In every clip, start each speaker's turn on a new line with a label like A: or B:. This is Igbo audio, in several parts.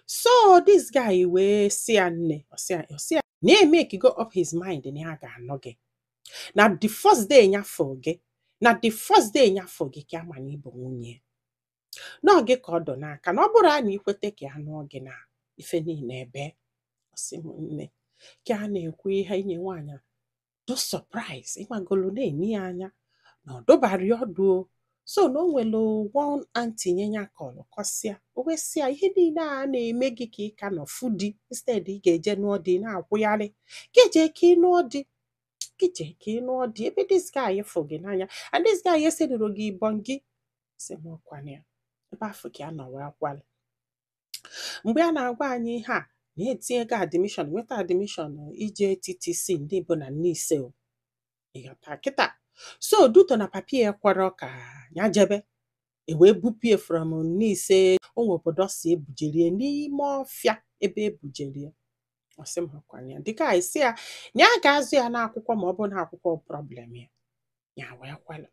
A: so this guy wee sị ya nne ọ sị ya na ya makego up his mind na ya ga-anụ gị na the first day ya fụ gị na the first day ya fụ gị ka ya ma na ị bụ nwunye na ọ gị ka ọ dụ n'aka na ọ bụrụ na i kweta ka ya nụọ gị na ife niile ebe ọ sị m nne ka a na-ekwu ihe a inye nwaanyị dụ surprise ị magolo na-ene ya anya nọdụbara ọdụ so na o nwere one aunty nya nya kọrọ kọsịa o wee sị ya ihe niile a na-eme gị ka ị ka nọ fụ di instead ị ga-eje nụọ di ị na-akwụgharị gị je ka ị nụọ di gị je ka ị nụọ di ebe this guy fụ gị n'anya and this guy esedoro gị ịbọn gị sị m ọ kwa na ebe afụ ka ya nọ wee kwelu mgbe a na-agwa anyị ihe a na ya etinyego admishọn nweta admishọn ije TTC ndị bụ na Nise o. ị ghọta kịta so due to na papa ya ekwerọ ka ya jebe e wee bupụ ya from Nise o nwe obodo ọ sị e bujere ya n'ime ọfịa ebe e bujere ya ọ sị m ọ kwa na the guy sị ya na ya ga-azụ ya n'akwụkwọ ma ọ bụ na akwụkwọ problem ya ya wee kwelu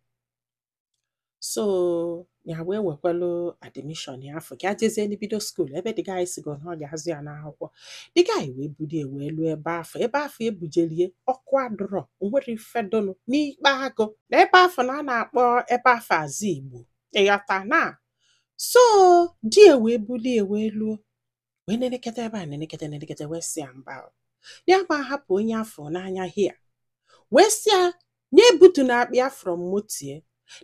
A: so ya wee wekwalụ admishọn ya afụ ka ya jezienụ bido skuul ebe the guy sịgo na ọ ga-azụ ya n'akwụkwọ the guy wee bulu ya wee luo ebe afụ ebe afụ e bujelu ya ọkụ adụrọ o nwerọ ife dụnụ n'ikpa agụ na ebe afụ na a na-akpọ ebe afụ azụ igbo ị ghọtana so di ya wee bulu ya wee luo wee neneketa ebe a neneketa neneketa wee sị ya mba o. na ya ama ahapụ onye ya fụrụ n'anya here wee sị ya nya ebutuna akpa ya from moto ya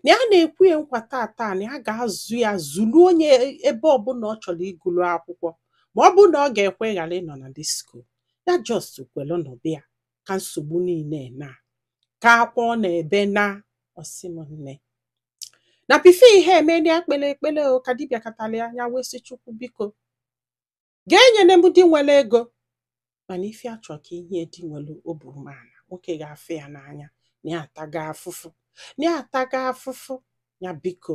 A: na ya na-ekwe ya nkwa taata na ya ga-azụ ya zụluo ya ebe ọbụla ọ chọrọ ịgụlu akwụkwọ ma ọ bụ na ọ ga-ekwe ghara ịnọ na disko ya just kwelụ nọ be ya ka nsogbu niile naa ka akwa ọ na-ebe naa ọ sị m nne na before ihe a emee na ya kpelu ekpele ọ ka di bịakatara ya ya wee sị chukwu biko gị enyena m di nwere ego mana ife ya chọ ka i nye ya di nwere obi umeala nwoke ga-afụ ya n'anya na ya atago afụfụ na ya atago afụfụ ya biko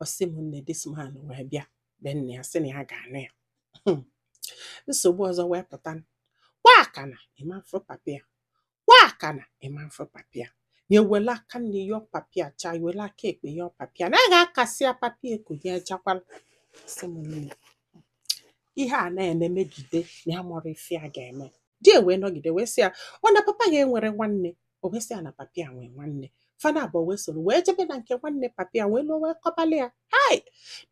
A: ọ sị m nne this man wee bịa be nne ya sị na ya ga-anụ ya Hmm. nsogbu ọzọ wee pụta kwa aka na ịma mfụ papa ya kwa aka na ịma mfụ papa ya na e welu aka nni yọọ papa ya chaa e welu aka ekpe yọọ papa ya na a ga-akasị ya papa ya eko ya ejakwala ọ sị m nne ihe a na-eme megide na ya amarọ ife ya ga-eme di ya wee nọgide wee sị ya ọ na papa ya enwerọ nwanne o wee sị ya na papa ya nwee nwanne fa naabọ wee soro wee jebe na nke nwanne papa ya wee luo wee kọbalị ya hai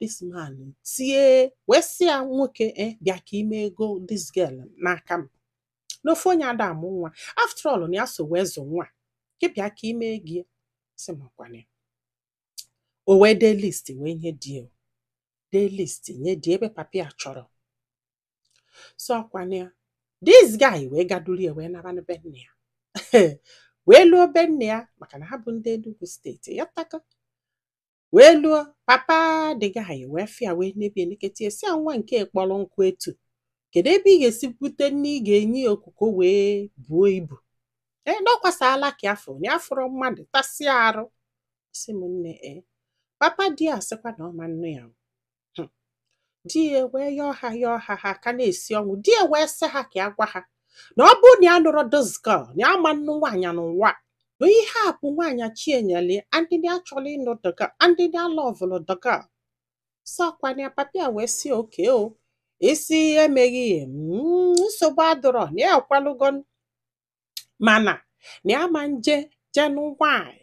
A: this man tie wee sị ya nwoke e bịa ka i mee ego this girl n'aka m n'ofu onye ada amụ nwa after all na ya so wee zụ nwa gị bịa ka ime gị sị m ọkwana ya o wee dee list wee nye di ya dee list nye di ya ebe papa ya chọrọ so ọkwana ya this guy wee gaduru ya wee nabanụ be nne ya wee luo be nne ya maka na ha bụ ndị Enugu steeti ya taka wee luo papa the guy wee fụ ya wee nebe ya nekete sị ya nwa nke kpọrọ nkụ etu kedu ebe ị ga-esi bute nni ị ga-enye ya okuko wee buo ibu ee dọkwasala ka afọ onye afọrọ mmadụ tasịa arụ sị m nne ee papa di ya sịkwa na ọ ma nnụ ya hmm. di ya wee yọọ ha yọọ ha ha ka na-esi ọnwụ di ya wee sị ha ka ya gwa ha na ọ bụrụ na ya anụrọ this girl na ya ma nnụ nwaanyị n'ụwa na ihe a bụ nwaanyị chi ya nyeli ya and na ya chọlụ ịnụ the girl and na ya lọvụlụ the girl so ọkwana ya papa ya wee sị okay o isi emeghị ya hmm, nsogbu adịrọ na ya ekwelugo mana na ya ma nje jee nụ nwaanyị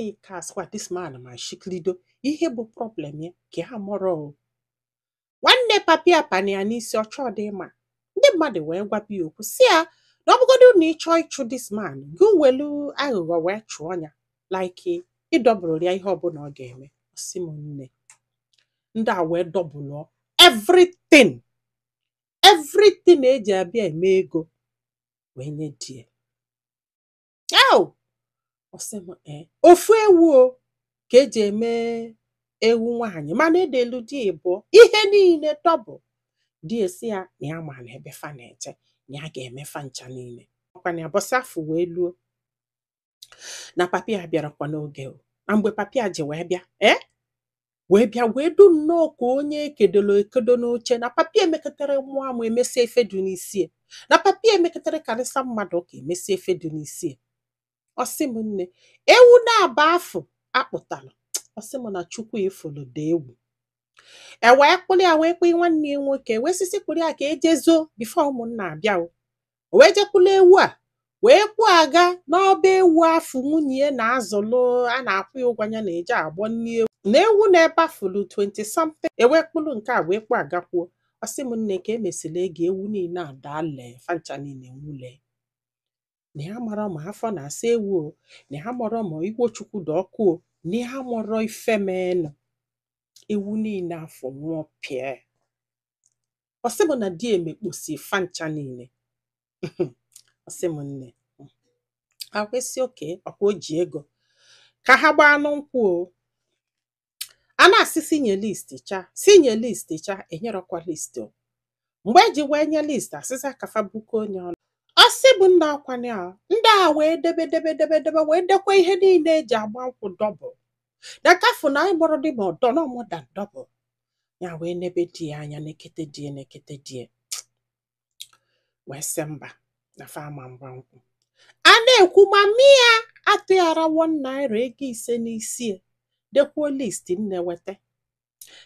A: ee ka asịkwa this man ma shikilido ihe bụ problem ya ka amarọ nwanne papa ya pani ya n'isi ọchọ dị mma ndị mmadụ wee gwaba ya okwu sị ya na ọ bụgodu na ị chọọ ịchụ this man gị welu aghụghọ wee chụọ ya like ị dọbụlụ ya ihe ọbụla ọ ga-eme sị m nne ndị a wee dọbụlụ everything everything eji abịa eme ego wee nye di ya au ọ sị m ee ofu ewu o ka eji eme ewu nwaanyị mana edelu di ịbụọ ihe niile double di ya sị ya na ya mara ebe fa na-eje na ya ga-eme fa ncha niile ọkwana ya ụbọsị afụ wee luo na papa ya bịarakwa n'oge o na mgbe papa ya ji wee bịa ee wee bịa wee dị nnọọ ka onye ekedoro ekedo n'oche na papa ya mekatara mụọ amụ emesịa ife dị n'isi na papa ya mekatara karịsa mmadụ ụka emesịa ife dị n'isi ọ sị m nne ewu naabọ afụ akpụtara ọ sị m na chukwu ifulu dị egwu e wee kpụrụ ya wee kpụnye nwanne ya nwoke wee sị sị kpụrụ ya ka e je zoo before ụmụnna abịa o o wee jee kpụlụ ewu a wee kpụ aga n'ọba ewu afụ nwunye ya na-azụlụ a na-akwụ ya ụgwọ ya na-eje agbọ nni ewu na ewu nọ ebe afụ lulu 20 something e wee kpụrụ nke a wee kpụ agakwuo ọ sị m nne ka emesịrị ego ewu niile adaa lee fa ncha niile nwụle na ya marọ ma afọ na-asa ewu o na ya marọ ma igwe chukwu dị ọkụ o na ya marọ ife menụ ewu niile afụ nwụọ pịa ọ sị m na di emekposi fa ncha niile ọ sị m nne akwesị oke ọkwa o ji ego ka ha gbaanụ nkwụ o a na-asị si nye list cha si nye list cha enyerọkwa list o mgbe eji wee nye list a sị si ka fa buko onye ọnụ ọ sị bụ nna ọkwanye a ndị a wee debe debe debe debe wee dekwa ihe niile eji agba nkwụ double na kafu na anyị mụrụ dị ma ọdọ na ụmụada double ya wee nebe di ya anya nekete di e nekete di e wee sị mba na fa ama agba nkwụ a na-ekwu ma mia atụghara one naira ego isi n'isi e dekwuo list nne weta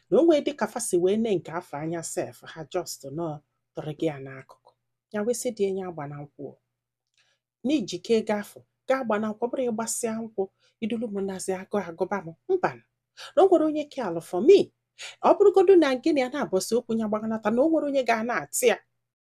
A: na onwe dịka fa si wee nee nke afụ anya sef ha just nọ tụrụ gị ya n'akụkụ ya wee sị di e nye agbana nkwụ n'ijike ego afụ ga-agba na nkwụ ọ bụrụ ị gbasịa nkwụ i dulu m nazi agụụ agụba m mba na o nwere onye ke alụ for me ọ bụrụgodu na gịnị a n'abọsị okwu ya gbaganata na o nwere onye ga na-atị ya